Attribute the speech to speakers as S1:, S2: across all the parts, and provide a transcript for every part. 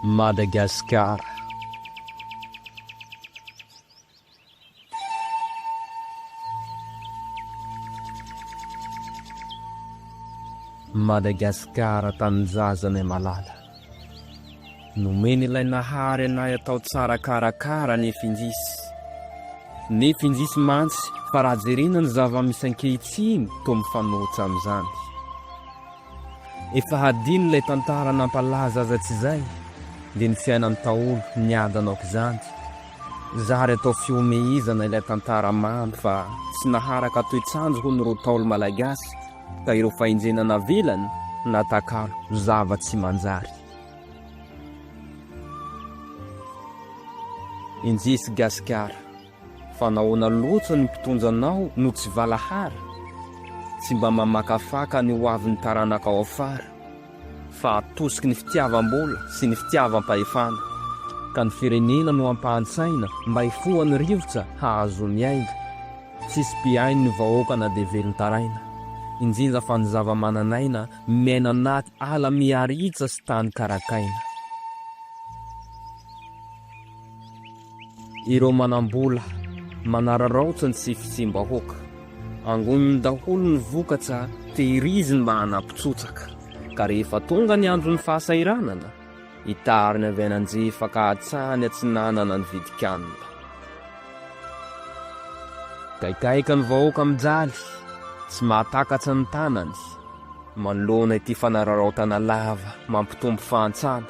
S1: Madagascar. Madagascar tanindrazanay malala. Nomeny ilay Nahary anay atao tsara karakara ny finjisy. Ny finjisy mantsy fa raha jerena ny zava-misy ankehitriny toa mifanohitra amin'izany. Efa hadino ilay tantara nampalaza azy hatrizay dia ny fiainan'ny Ntaolo niadana aok'izany. Zary atao fihomehezana ilay tantara mamy fa tsy naharaka toetr'andro hono ireo Ntaolo malagasy. ka ireo fahenjena navelany natakalo ho zava-tsy manjary. Enjesy Gasikara, fa nahoana loatra ny mpitondra anao no tsy valahara? Tsy mba mamakafaka ny hoavin'ny taranakao afara? fa atosiky ny fitiavam-bola sy ny fitiavam-pahefana, ka ny firenena no ampahany saina mba hifohany rivotra hahazoa miainga. Tsisy mpihaino ny vahoaka na dia velon-taraina, injinja fa ny zava-manan'aina miaina anaty ala miharitsa sy tany karakaina. Ireo manam-bola manararaotra ny tsy fisiam-bahoaka. Angoniny daholo ny vokatra tehiriziny mba hanapitsotraka. Ka rehefa tonga ny andron'ny fahasahiranana, itariny avy any anjefa ka hatrany atsinanana ny vidin-kanina. Gaigaika ny vahoaka mijaly, tsy mahatakatra ny tanany, manoloana ity fanararaotana lava mampitombo fahantrana.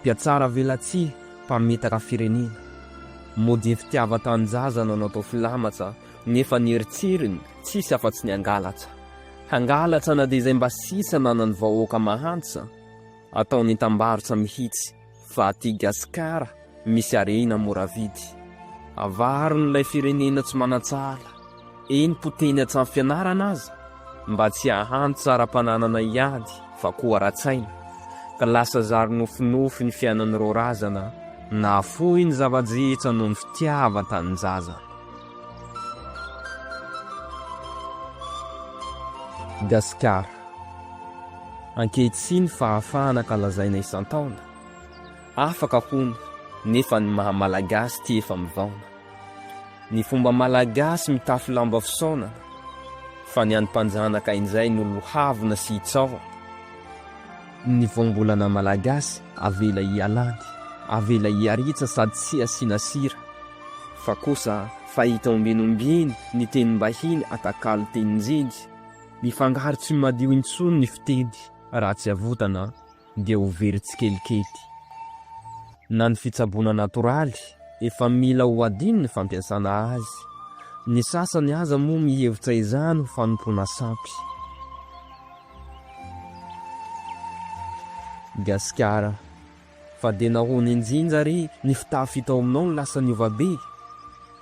S1: Mpiatsaravelatsihy, mpamitaka firenena, mody fitiavan-tanindrazana no natao filamatsa nefa ny eritreriny tsisy afa-tsy ny hangalatra. Hangalatra na dia izay mba sisa nanan'ny vahoaka mahantra, ataony hitambarotra mihitsy fa aty Gasikara misy harena mora vidy. Avariny ilay firenena tsy manan-tsala. eny potehiny an-trano fianarana aza mba tsy hahano tsaram-pananana hiady fa koa ara-tsaina, ka lasa zary nofinofy ny fiainan'ireo razana nahafoy ny zava-drehetra noho ny fitiavan-tanindrazana. Gasikara, ankehitriny fahafahana ka lazaina isan-taona. Afaka hono nefa ny maha malagasy ty efa mivaona. Ny fomba malagasy mitafy lamba fisaonana fa ny any mpanjanaka injay no lohavina sy hitsaohana. Ny voambolana malagasy avela hialany, avela hiaritsa sady tsy asiana sira. Fa kosa fahita ombinombiny ny tenim-bahiny atakalo tenin-jiny, mifangaro tsy madio intsony ny fiteny raha tsy avotana. dia ho very tsikelikely. Na ny fitsaboana natoraly, efa mila ho adino ny fampiasana azy. Ny sasany aza moa mihevitra izany ho fanompoana sampy. Gasikara, fa dia nahoana injinja re ny fitafy hita ao aminao no lasa niova be?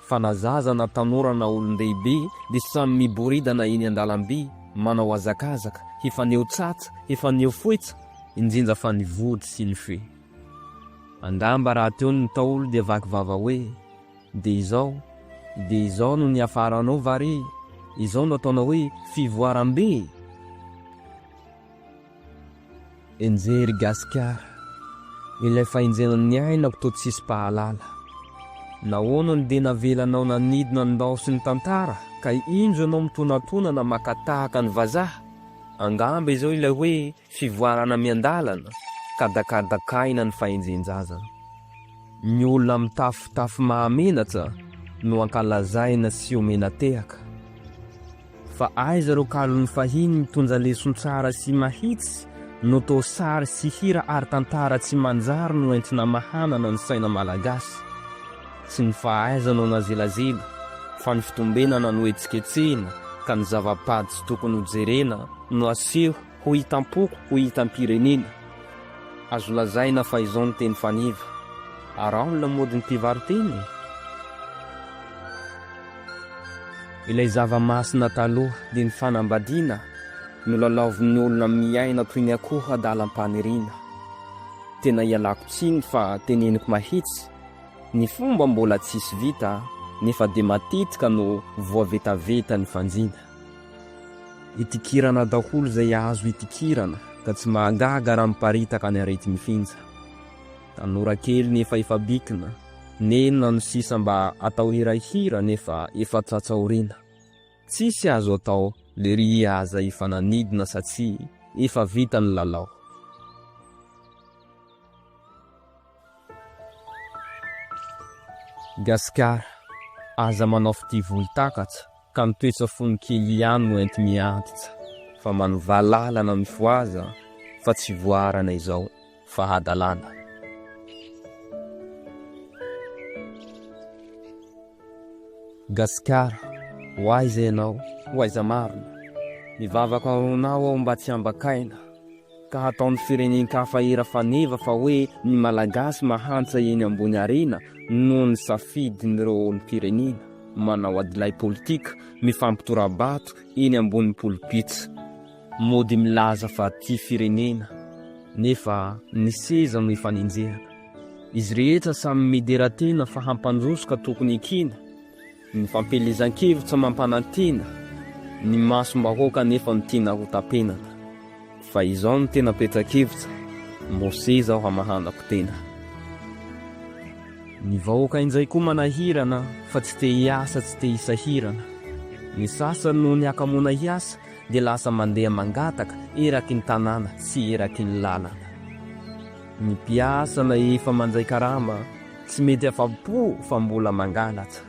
S1: fa na zaza na tanora na olon-dehibe dia samy miboridana eny an-dalambe, manao hazakazaka, hifaneho tsatsa, hifaneho foetsa, indrindra fa ny vody sy ny fe. Angamba rahateo ny Ntaolo dia vaky vava hoe, Dia izao, dia izao no niafaranao va re? Izao no ataonao hoe fivoaram-be e! Enjehy ry Gasikara, ilay fahenjenan'ny aina ko toa tsisy mpahalala. Nahoana no dia navelanao nanidina ny ndao sy ny tantara ka injo ianao mitonatonana maka tahaka ny vazaha? Angamba izao ilay hoe fivoarana miandalana ka dakadakaina ny fahenjen-jaza. Ny olona mitafy fitafy mahamenatra no ankalazaina sy omena tehaka. Fa aiza ireo kalon'ny fahiny mitondra leson tsara sy mahitsy no to sary sy hira ary tantara tsy manjary no entina mahanana ny saina malagasy. Tsy ny fahaiza no nazelazela fa ny fitombenana no etsiketsehina ka ny zava-pady tsy tokony ho jerena no aseho Ho hitam-poko, ho hitam-pirenena. Azo lazaina fa izao no teny faneva. Araho ny lamodin'ny mpivaro-teny e! Ilay zava-masina taloha dia ny fanambadiana no lalaovin'ny olona miaina toy ny akoho adalam-paniriana. Tena ialako tsiny fa teneniko mahitsy, ny fomba mbola tsisy vita nefa dia matetika no voavetaveta ny fanjina. Itikirana daholo izay azo itikirana ka tsy mahagaga raha miparitaka ny areti-mifinja. Tanora kely nefa efa bikina, nenina no sisa mba atao hirahira nefa efa tratsa aoriana. Tsisy azo atao, lery aza efa nanidina satsia efa vita ny lalao. Gasikara, aza manao fitia volon-takatsa ka ny toetra fony kely ihany no enti-miantsa. Fa manovaha lalana mifohaza fa tsy voaharana izao fa hadalana. Gasikara, ho aiza ianao, ho aiza marina? Mivavaka ho anao aho mba tsy ambakaina. ka hataon'ny firenen-kafa hira faneva fa hoe ny Malagasy mahantra eny ambony harena noho ny safidin'ireo olom-pirenena manao adilahy politika mifampitora-bato eny ambony polpitra mody milaza fa tia firenena nefa ny seza no ifanenjehana. Izy rehetra samy midera tena fa hampandroso ka tokony ekena. Ny fampielezan-kevitra mampanantena ny masom-bahoaka nefa ny tiana rotam-penana. Fa izao no tena petra-kevitra, Mose zao hamahanako tena. Ny vahoaka injay koa manahirana fa tsy te hiasa tsy te hisahirana. Ny sasany noho ny hakamoana hiasa dia lasa mandeha mangataka eraky ny tanàna sy eraky ny lalana. Ny mpiasa na efa mandray karama tsy mety afa-po fa mbola mangalatra.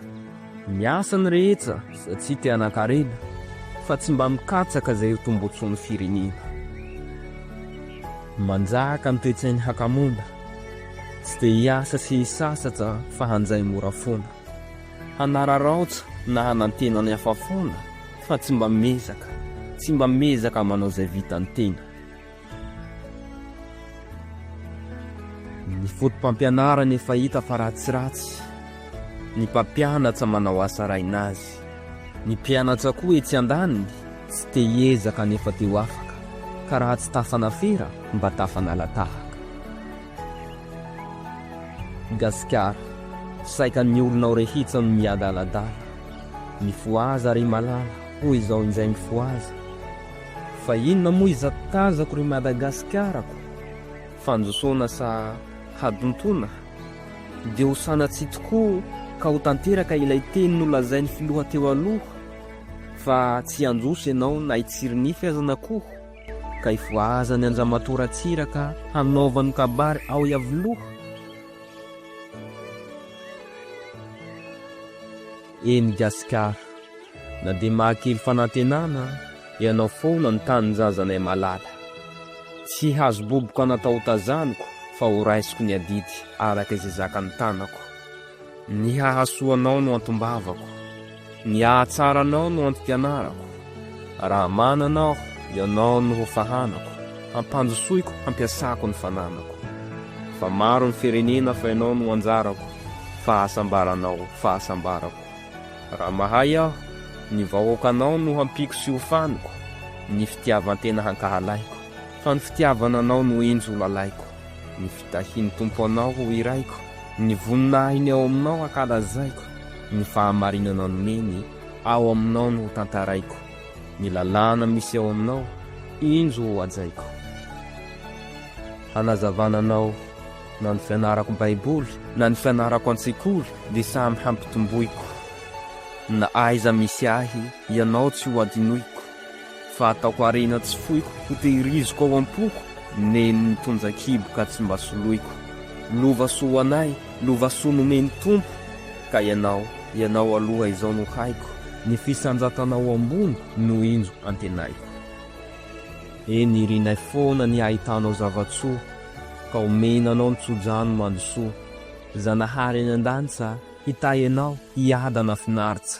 S1: Miasa ny rehetra satria te hanan-karena fa tsy mba mikatsaka izay ho tombontsoan'ny firenena. Manjaka ny toe-tsain'ny hakamoana, tsy te hiasa sy hisasatra fa hanjay mora foana. Hanararaotra na hanantena ny hafa foana fa tsy mba miezaka, tsy mba miezaka manao izay vitan'ny tena. Ny fotopampianarana efa hita fa ratsiratsy, ny mpampianatra manao asa rainazy, ny mpianatra koa etsy andaniny tsy te hiezaka nefa te ho afaka, ka raha tsy tafanafera mba tafanala tahaka. Gasikara, saika ny olonao rehitsa no miadaladala, mifohaza ry malala, hoy izao injay mifohaza, Fa inona moa izatazako ry Madagasikarako? Fandrosoana sa hadontoana? Dia ho sanatsia tokoa ka ho tanteraka ilay teny nolazain'ny filoha teo aloha fa tsy handroso ianao na hitsiry nify aza na koa ka hifohazany an-dRamatoa Ratsiraka hanaovany kabary ao Iavoloha? Eny Gasikara. Na dia mahakely fanantenana ianao foana ny tanindrazanay malala. Tsy hazoboboko anatahotazaniko fa ho raisiko ny adidy araka izay zakan'ny tanako. Ny hahasoa anao no antombavako. Ny hahatsara anao no antom-pianarako. Raha manana aho, Ianao no ho fahanako, hampandrosoiko, hampiasako ny fananako. Fa maro ny firenena fa Ianao no anjarako, fahasambaranao, fahasambarako. Raha mahay aho, ny vahoakanao no hampiako sy hofaniko, ny fitiavan-tena hankahalaiko, fa ny fitiavana Anao no henjy ho lalaiko, ny fitahian'ny Tompo Anao ho hiraiko, ny voninahiny ao Aminao hankalazaiko, ny fahamarinana nomeny. Ao aminao no hotantaraiko. Ny lalàna misy ao aminao, injo ho hajaiko. Hanazavana anao, na ny fianarako Baiboly, na ny fianarako an-tsekoly, dia samy hampitomboiko. Na aiza misy ahy, ianao tsy ho hadinoiko. Fa ataoko harena tsy foiko, ho tehiriziko ao am-poko, nen'ny tonjan-kibo ka tsy mba soloiko. Lova soa ho anay, lova soa nomen'ny Tompo, ka ianao, ianao aloha izao no haiko. Ny fisanjatanao ambony no injo antenaiko. Eny irinay foana ny ahitanao zava-tsoa, ka omena anao ny tso-drano mandosoa. Zanahary any an-danitsa, hitahy anao, hiadana finaritsa.